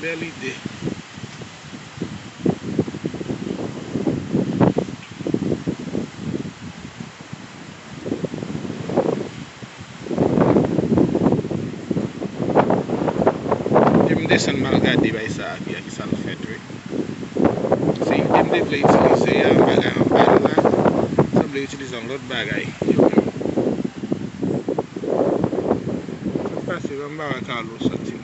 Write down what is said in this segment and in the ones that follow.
Bel ide. Fok m desann mal gade bay sa a via kisa l fèt wi. Se ide m te vle itilize a bagay anba l la sanble itilize yon lot bagay yo menm. Sak pase anba wa Carlo soti.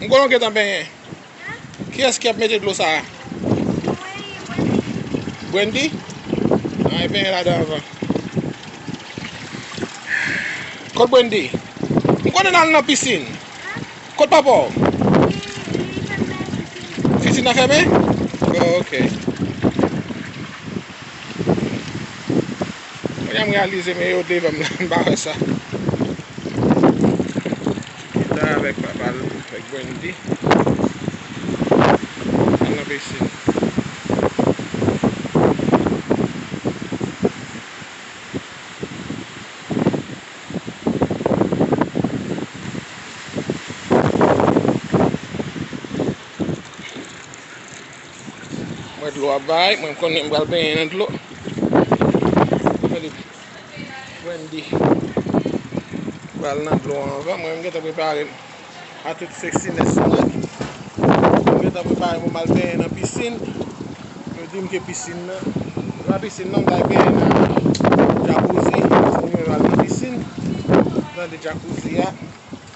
M konnen w gentan benyen. Kiyès ki ap mete dlo sa a? Brandi? An e benyen ladan anvan. Kot Brandi? M konnen nan al nan pisin. Kot papa w? Pisin nan fèmen? Ok. Mwen gen m realize men yo devanm la m pa wè sa. Chita avèk papal avèk Wendy. Al nan pisin. Mwen dlo a bay, mwen konnen m pral benyen nan dlo. Gade, Wendy pral nan dlo anvan mwen, m gentan prepare m a tout sexiness mwen. M gentan prepare m pou m al benyen nan pisin. Yo di m ke pisin nan, se pa pisin non, m ta al benyen nan jacuzzi, paske mwen menm al nan pisin, tande jacuzzi a.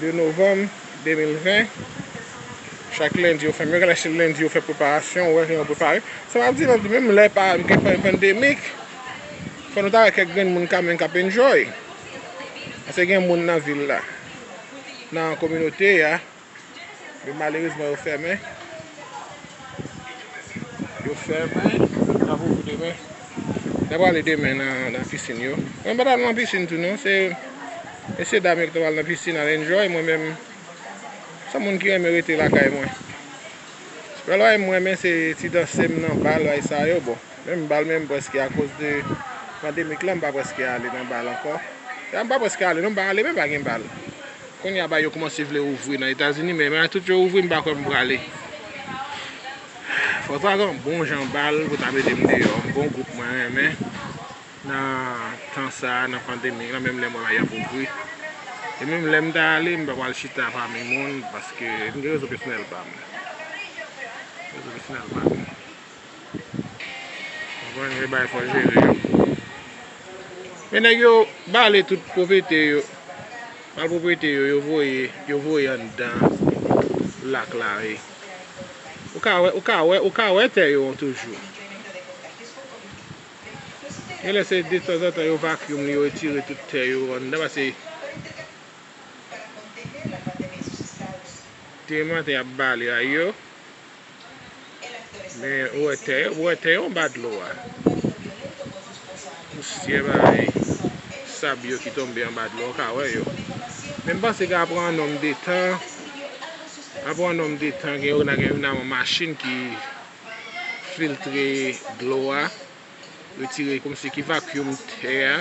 2 novanm 2020 Chak lendi yo fèmen, yo gen lè se lendi yo fè preparasyon, wè jan yo prepare. Sa map di nan di menm lè pa gen pandemik, fò nou ta wè kèk grenn moun kanmenm k ap enjoy. Pase gen moun nan vil la, nan kominote a, men malerezman yo fèmen. Yo fèmen Nan pou pou demen Mwen ta prale demen nan pisin yo Mwen pa tal nan pisin tou non Se mesye dam yo ki ta pral nan pisin al enjoy Mwen menm San moun ki renmen rete lakay mwen Sèl bagay mwen renmen se ti danse m nan bal bay sa yo bon Menm bal menm preske a koz de pandemic la m pa preske ale nan bal ankò Mwen pa preske ale non m pa ale menm pa gen bal Kounya bay yo koumanse vle ouvri nan etazini men malgre tout yo ouvri m pa kwè m prale fòk ta gen yon bon jan bal pou ta mete m deyò yon bon gwoup mwen renmen nan tan sa nan pandemi lan menm lè m wè bagay yo ap ouvri e menm lè m ta ale m pa pral chita pami moun paske m gen rezon pèsonèl pa m rezon pèsonèl pa m. Konprann se bay fo jere yo. Men nèg yo bale tout pwopriyete yo. Bale pwopriyete yo, yo voye anndan lak la. Ou ka wè tè yo toujou. Gen lè se de tanzantan yo vacuum li, yo retire tout tè yo anndan pase. Demen maten y ap bale a yo. Men ou wè tè yo, ou wè tè yo anba dlo a. Pousyè bagay sab yo ki tonbe anba dlo a ou ka wè yo. Men m panse ka pran yon nonm de tan, ka pran yon nonm de tan gen yon nan gen yon nan yon machin ki filtre dlo a. Retire kòm si ki vacuum tè a.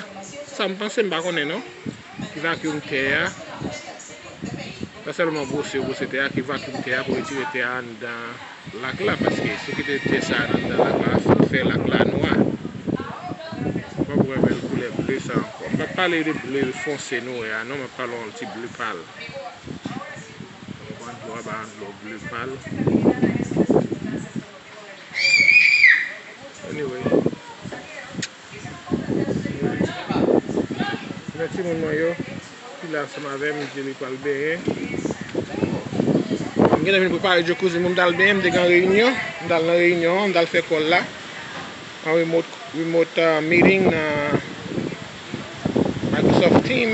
Sa m panse m pa konnen non. Ki vacuum tè a. Pa sèlman bwose bwose tè a ki vacuum tè a pou retire tè a anndan lak la paske si w kite tè sa a anndan lak la sa ap fè lak la nwa. M pa pou renmen koulè ble sa ankò. M pa pale de ble fonse nou wè a non. M ap pale yon ti ble pal. Ou konprann dlo a ba yon dlo ble pal. Anyway Mwen timoun mwen yo ki la ansanm avèm Djeri pral benyen Bon m gentan vin prepare Jacuzzi m pou m tal benyen m te gen reyinyon m tal nan reyinyon an m tal fè kòl la an remote remote meeting nan Microsoft Team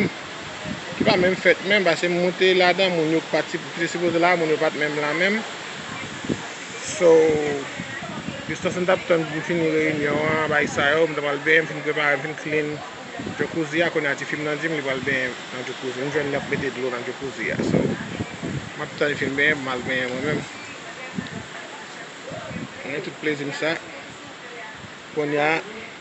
ki pa menm fèt menm pase m moute ladan moun yo ki pa ki te sipoze la moun yo pat menm la menm so jistan m tap tann pou m fini reyinyon an bay sa yo m ta pral benyen m fin prepare m fin klin jacuzzi a kounye a tifi m nan di m li pral benyen nan jacuzzi m jwenn li ap mete dlo nan jacuzzi a so m ap tann li fin benyen pou m al benyen mwen menm mwen gen tout plezi m sa kounye a.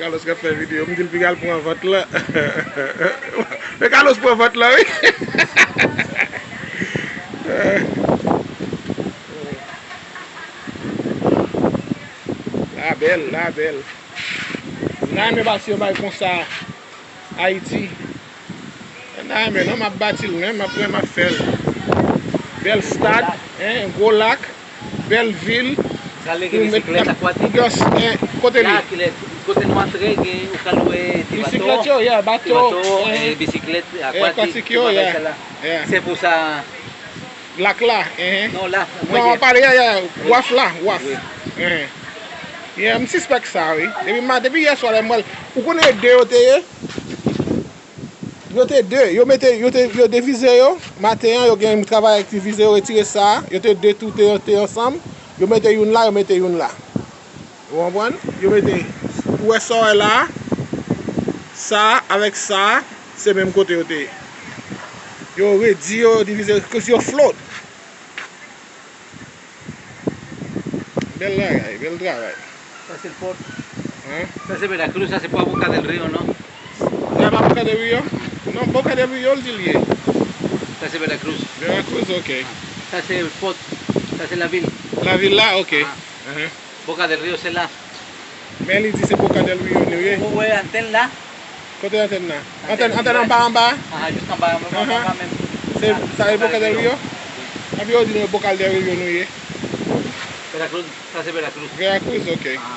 Carlos kap fè video m dil pou yal pran vant lan Men Carlos pran vant lan wi La bèl la bèl M ta renmen bati yon bagay konsa Ayiti Mta renmen non map batil men map wè map fèl bèl stad hein gwo lak bèl vil pou met kap pou gen kote li bisiklèt yo yeah bato akwatik yo yeah lak la hein non wap pale yeah yeah waf la waf yeah msispèk sa wi depi yèswa lèm wèl ou konnen yo 2 yo te ye. Yo te de, yo mete, yo te, yo devize yo, maten an, yo gen yon travay ak divize, yo retire sa, yo te de tou te, te ansanm, yo mete youn la, yo mete youn la. Ou anpwann? Yo mete, ou wè sa ou wè la a, sa a avèk sa a, se menm kote yo te ye. Yo redi yo, yo divize, cause yo float. Bel bagay, bel travay. Sa se pot. Hein? Sa se meda cruz, sa se pa boca del rio non? Sa pa boca del rio? Non boca del rio l di l ye. Sa se meda cruz. Vera cruz ok. Sa se pot, sa se la vil. La vil la ok. Boca del Rio se la. Men li di se Boca del Rio nou ye. Ou wè antèn la? Kote antèn la? Antèn antèn anba anba a? Aha jis anba a menm anba menm. Se sa ye Boca del Rio? Wi. Epi yo di nou Boca del Rio nou ye. Veracruz, sa se Veracruz. Veracruz ok. Aha.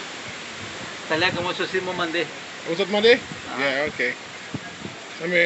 Talè a kòm mwen sòsi mwen mande. Ou sot mande? Aha. Yeah ok. Anmwe.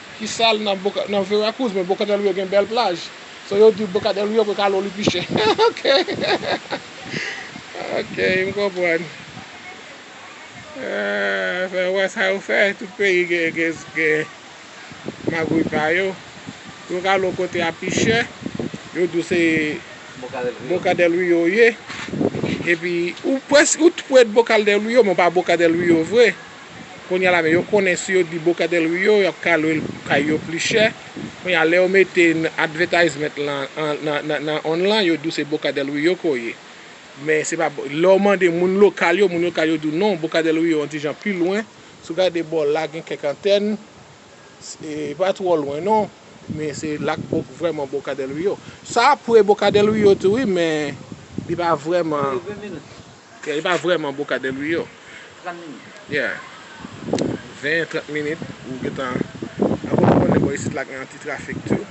Ki sal nan veracruz men boca del rio gen bèl plaj so yo di boca del rio ke kalo li pi chè ok ok m konprann fè w wè sa yo fè tout peyi gen magouy pa yo yo kalo kote a pi chè yo di w se boca del rio ou ye epi ou t pwè boca del rio men w pa boca del rio vre. Kounye a la men yo konnen si yo di Boca del Rio y ap ka lwe kay yo pli chè. Kounye a lè yo mete nan advètayzment lan nan onn lan yo di w se Boca del Rio ke w ye. Men se pa lè w mande moun lokal yo, moun lokal yo di w non Boca del Rio yon ti jan pi lwen. Si w gade bò la gen kèk antèn e pa twò lwen non men se la k vrèman Boca del Rio. Sa pre Boca del Rio tou wi men li pa vrèman. Li pa vreman boca del rio. 30 minit. Yeah. 20, 30 minit ou gentan. Ak kote mwen menm bò isit la gen yon ti trafik tou.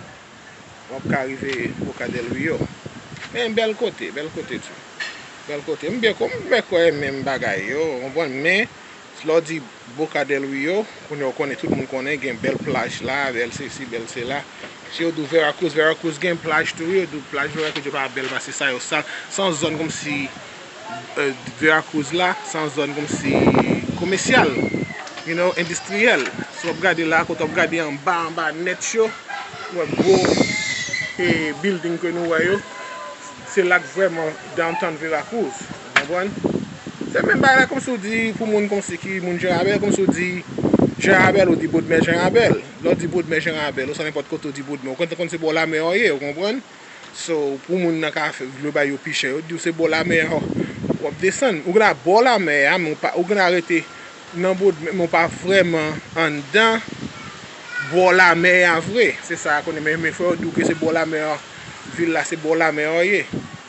Wap ka rive boca del rio. Men bèl kote, bèl kote tou. Bèl kote. M byen kwè, m byen kwè menm bagay yo, ou konprann? Men. Lè w di Boca del Rio, kounye a w konnen, tout moun konnen, gen bèl plaj la, bèl sesi, bèl sela. Si yo di w Veracruz, Veracruz gen plaj tou wi, yo di w plaj Veracruz yo pa bèl pase sa, yo sal. Se yon zòn kòmsi Veracruz la, se yon zòn kòmsi komèsyal, you know, endistriyèl. Si w ap gade la, kote w ap gade anba, anba nèt yo, ou wè gwo bilding ke nou wè yo, se la k vrèman downtown Veracruz. Konprann? Se menm bagay la kòmsi w di pou moun kòmsi ki moun Janrabèl, kòmsi w di Janrabèl ou di Bodmè Janrabèl. Lè w di Bodmè Janrabèl ou san nenpòt kote w di Bodmè ou konn se bò lamè a w ye, ou konprann? So, pou moun nan ka vle bay yo pi chè, yo di w se bò lamè a w ap desann. Ou gen dwa bò lamè a men ou gen dwa rete nan Bodmè men ou pa vrèman anndan bò lamè a vre. Se sa konnen men fò yo di w ke se bò lamè a, vil la se bò lamè a w ye.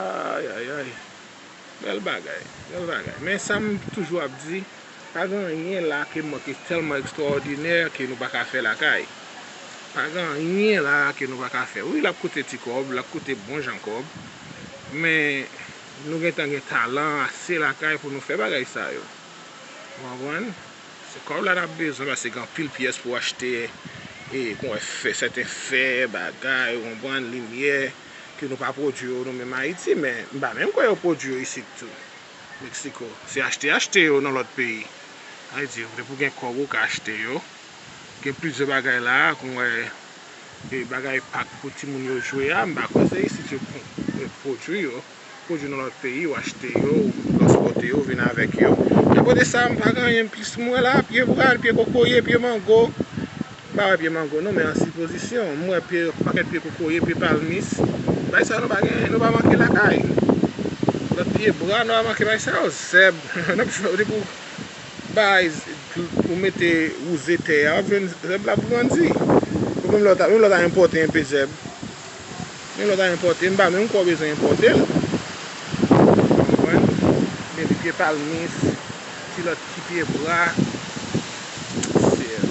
Ayayay Bel bagay Bel bagay Men sa m toujou ap di Pa gen anyen la ke mwen ki telman ekstraòdinè ke nou pa ka fè lakay Pa gen anyen la ke nou pa ka fè Wi l ap koute ti kòb L ap koute bon jan kòb Men nou gentan gen talan ase lakay pou nou fè bagay sa yo Ou konprann Se kòb la nap bezwen paske gen anpil pyès pou achte e kon wè fè sèten fè bagay ou konprann limyè ke nou pa pwodui yo nou menm Ayiti men m pa menm kwè yo pwodui yo isit tou Mexico se achte achte yo nan lòt peyi Ayiti ou depi ou gen kòb ou ka achte yo gen plizyè bagay la kon wè e bagay pak pou timoun yo jwe a m pa kwè se isit yo pwodui yo. Pwodwi nan lòt peyi ou achte yo ou transpòte yo vin avèk yo. E akote sa m pa gen anyen plis m wè la, pye pral, pye kokoye, pye mango. M pa wè pye mango non men an sipozisyon. M wè pye yon pakèt pye kokoye, pye palmis. Bagay sa yo nou pa gen, nou pa manke lakay. Lòt pye bwa nou pa manke bagay sa yo. Zèb, nan ap jwenn depi w bay, ou mete wouze tè a w ap jwenn zèb l ap grandi. Menm lè w ta enpòte enpe zèb. Gen lòt a enpòte, m pa menm kwè w bezwen enpòte l. Ou konprann? Men ti pye palmis, ti lòt ti pye bwa, sèl.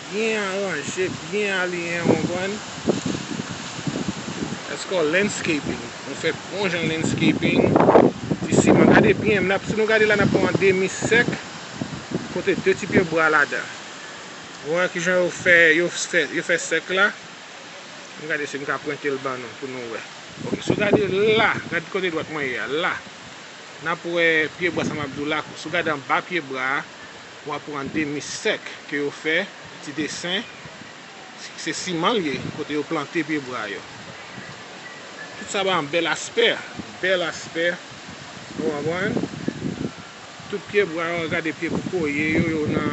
Byen aranje, byen aliyen, ou konprann? That's called landscaping. Ou fè bon jan landscaping. Ti siman, gade byen, m ap, si nou gade la n ap wè yon demi sèk, kote de ti pye bwa ladan. Ou wè ki jan yo fè, yo fè, yo fè sèk la? Ann gade si m ka prente l ban nou pou nou wè. Ok, si w gade la, gade kote dwèt mwen ye a, la, n ap wè pye bra sa m ap di w la. Si w gade anba pye bra a, w ap wè yon demi sèk ke yo fè, ti desen. Se siman l ye, kote yo plante pye bra yo. Tout sa ba yon bèl aspè. Bèl aspè. Ou konprann? Tout pye bwa yo gade pye kokoye yo yo nan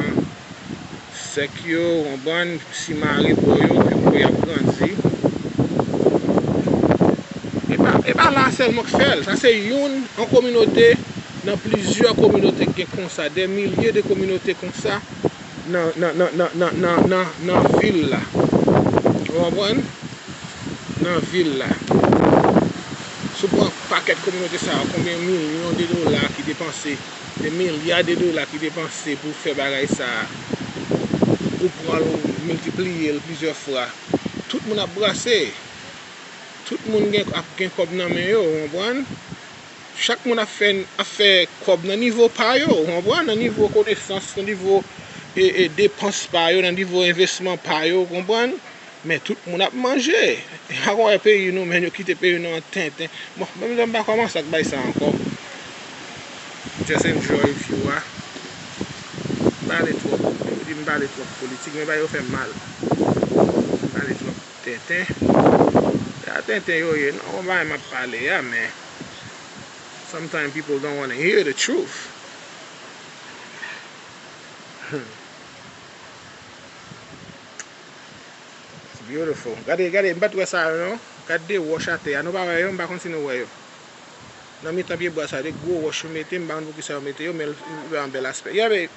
sèk yo wonbrann simare bò yo piko yap grandi epa epa la sèlman k fèl sa se youn yon kominote nan plizyè kominote k gen konsa dè milye de kominote konsa. Nan vil la. Ou konprann? Nan vil la. Si w pran pakèt kominote sa yo, konbyen milyon de dola ki depanse, de milya de dola ki depanse pou fè bagay sa a, ou pran l ou miltipliye l plizyè fwa, tout moun ap brase. Tout moun ap gen kòb nan men yo, ou konprann? Chak moun ap fè kòb nan nivo pa yo, ou konprann, nan nivo konesans, nan nivo depans pa yo, nan nivo envesman pa yo, ou konprann, men tout moun ap manje. Ou pa konn wè peyi nou menm, yo kite peyi nou an tenten. Bon, menm jan m pa kòmanse ak bagay sa ankò. M just enjoy view a. M pale twòp, yo di m pale twòp politik, men bagay yo fè m mal. M pale twòp tenten. Se pa tenten yo ye non, bon bagay m ap pale a men. Sometimes people don't wanna hear the truth. It's beautiful. Gade, gade, m pat wè sa yo non. Gade de wòch atè a. Nou pa wè yo, m pa konn si nou wè yo. Nan mitan pyebwa sa yo, de gwo wòch yo mete, m pa konn poukisa yo mete yo, men l vreman bèl aspè. Yeah babe.